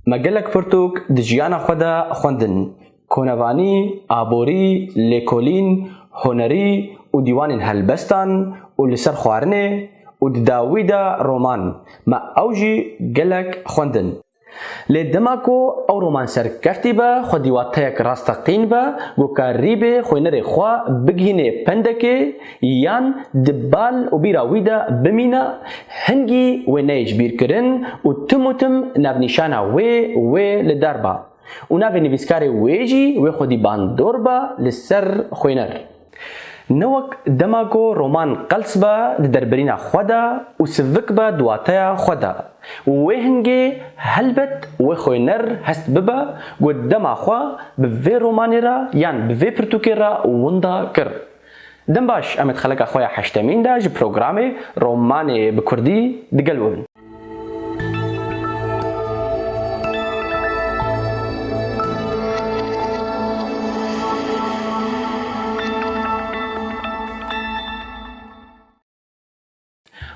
Me gelek pirtûk di jiyana xwe de xwendin, konevanî, aborî, lêkolîn, hunerî û dîwanên helbestan û li ser xwarinê û di dawî de roman, me ew jî gelek xwendin. Lê dema ku ew roman serkeftî be, xwe dîwateyek rasteqîn be, gokarî bê, xwênerê xwe bigihînê pendekê, Yan di bal û bîra wî de bimîne, hingî wê neyê ji bîr kirin û tim û tim navnîşana wê wê li dar ba û navê nivîskarê wê jî wê xwedî bandor ba li ser xwêner. Ne wek dema ku roman qels be di derbirîna xwe de û sivik be di wateya xwe de. Wê hingê helbet wê xwêner hest bibe ku dema xwe bi vê romanê re yan bi vê pirtûkê re winda kir. Dem baş em ê di xeleka xwe ya heştemîn de ji programê Romanê bi kurdî di gel we bin.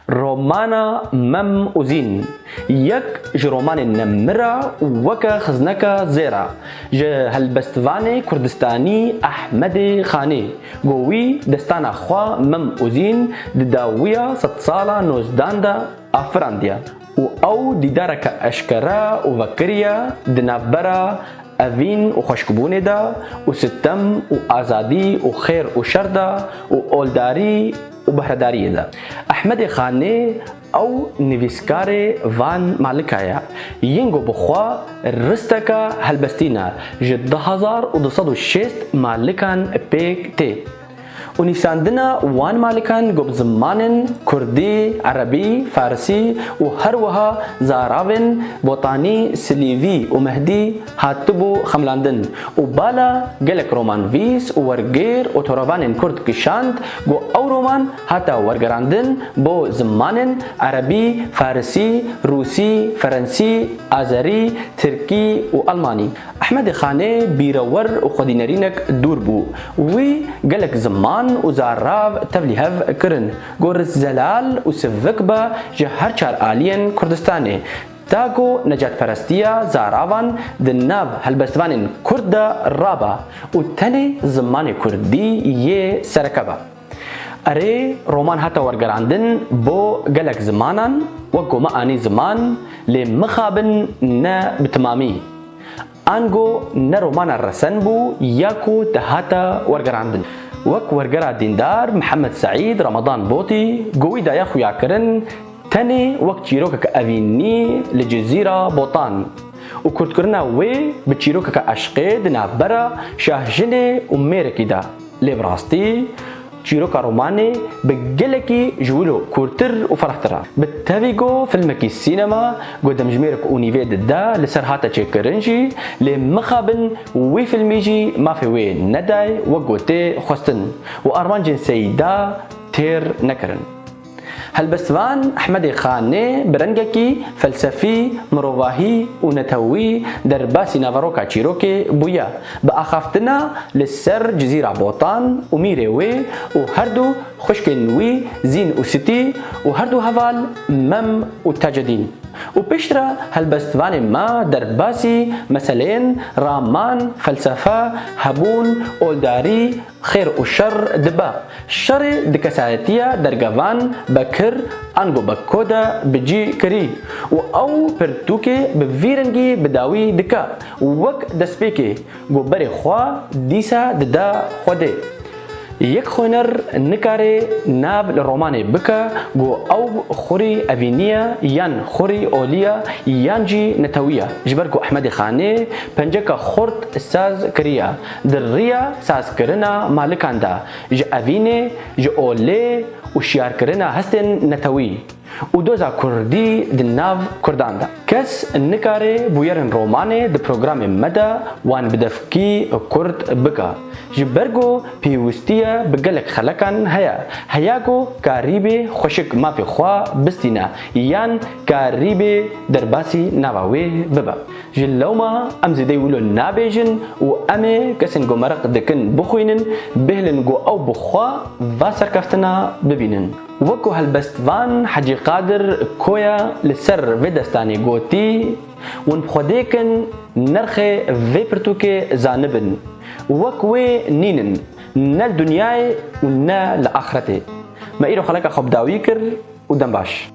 Romana Mem û Zîn yek ji romanên me mir a û weke xizneka zêr a. Ji helbestvanê kurdistanî Ehmedê Xanî ku wî destana xwe Mem û Zîn di dawiya sedsala nozdan de afirandiye û ew dîdareke eşkere û vekirî ye di navbera evîn û xweşkbûnê de û sitem û azadî û xêr û şer de û oldarî û bahredariyê de. Ehmedê Xanê ew nivîskarê van malika ye. Yingo bi xwe risteka helbestîna ji du hezar û du sed û şêst malikan pêk tê û nîsandina wan malikan got bi zimanên kurdî, erebî, farsî û her wiha zaravên botanî, silîvî û mehdî, Hatibû xemilandin û bala gelek romanvîs û wergêr û toravanên kurd kişand ku ew roman hata wergerandin bo zimanên erebî, farisî, rûsî, ferensî, azerî, tirkî û elmanî. Ehmedê Xanê bîrewer û xwedînerînek dûr bû. Wî gelek ziman û zarav tevlî hev kirin ku rizzelal û sivik be ji her çar aliyên Kurdistanê. Ta ku necatperestiya zaravan di nav helbestvanên kurd de raba û tenê zimanê kurdî yê sereke be. Erê, roman hate wergerandin bo gelek zimanan, wek ku me anî ziman, lê mixabin ne bi timamî. Ango ne romana resen bû ya ku dihata wergerandin. Wek wergera dîndar Mihemed Seîd Ramadan Botî gowî daye xuyakirin tenê wek çîrokeke evînnî li Cizîra Botan û kurtkirina wê bi çîrokeke eşqê di navbera şahjinê û mêrekî de lê bi rastî Çîroka romanê bi gelekî ji wilo kûrtir û ferehtir a. Bi tevî ku filmekî sînema ku demjimêrek û nîvê dide li ser hate çêkirin jî, lê mixabin wî filmî jî mafê wê neday wek ku tê xwestin û armancên Seyîda têr nekirin. Helbest van Ehmedê Xanê bi rengekî felsefî, mirovahî û netewî derbasî naveroka çîrokê bûye. Bi axaftina li ser Cizîra Botan û mîrê wê û her du xwişkên wî Zîn û Sitî û her du heval Mem û Tacedîn û pêştre helbest vanê me derbasî meseleyên raman, felsefe, hebûn, oldarî, Xêr û şer dibe. Şerê di kesayetiya dergevan Bekir ango Bekko de bi cî kirî û ew pirtûkê bi vî rengî bi dawî dike û wek destpêkê go berê xwe dîsa dide Xwedê. Yek xwêner nikarê nav li romanê bike go ew xurî evînî ye yan xurî olî ye yan jî netewî ye ji ber ku Ehmedê Xanê penceka xurt saz kiriye Di riya sazkirina malikan de ji evînê, ji olê û şiyarkirina hestên netewî û doza kurdî di nav kurdan de, kes nikare bûyerên romanê di programê me de wan bi devkî kurt bike. Ji ber ku pêwistiye bi gelek xelekan heye, heya ku karîbê xweşik mafê xwe bistîne yan karîbê derbasî nava wê bibe. Ji lewma em zêdeyî wilo nabêjin û em ê kesên ku meriq dikin bixwînin, bihêlin ku ew bi xwe va serkeftina bibînin. Wek ku helbestvan Hecî Qadir Koya li ser vê destanê gotî, Hûn bi xwe dê kin nirxê vê pirtûkê zanibin. Wek wê nîn in ne li dinyayê û ne li axretê. Me îro xeleka xwe bi dawî kir û dem baş.